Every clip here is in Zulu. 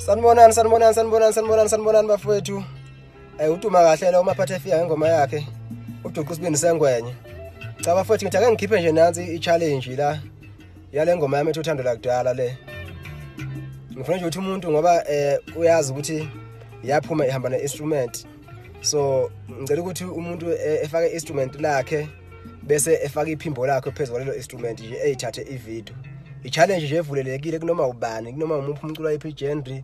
sanibonani sanibonani sanibonani sanibonani sanibonani bafowethu um eh, uduma kahle lo umaphatha efika ngengoma yakhe uduqa usibindi sengwenye cha bafowethu ngithi ake ngikhiphe nje nansi i-challenge la yale ngoma yami ethi uthando lakudala le ngifuna nje ukuthi umuntu ngoba eh uyazi ukuthi yaphuma ihamba ne-instrument so ngicela ukuthi umuntu eh, efake i-instrument lakhe bese efaka iphimbo lakhe phezu kwalelo instrument nje eyithathe ivideo i-challenge nje evulelekile kunoma ubani kunoma umuphi umculo wayiphi igenry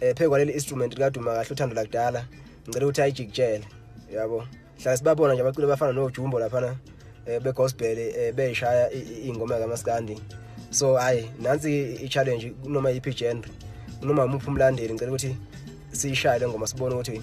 eh phe kwaleli instrument likaduma kahle uthando lakudala ngicela ukuthi ayijikjele yabo hlala sibabona nje abaculi bafana nojumbo laphana eh begospel eh beyishaya ingoma kamaskandi so hayi nansi i-challenge kunoma yiphi genre kunoma umuphi umlandeli ngicela ukuthi siyishaye le ngoma sibone ukuthi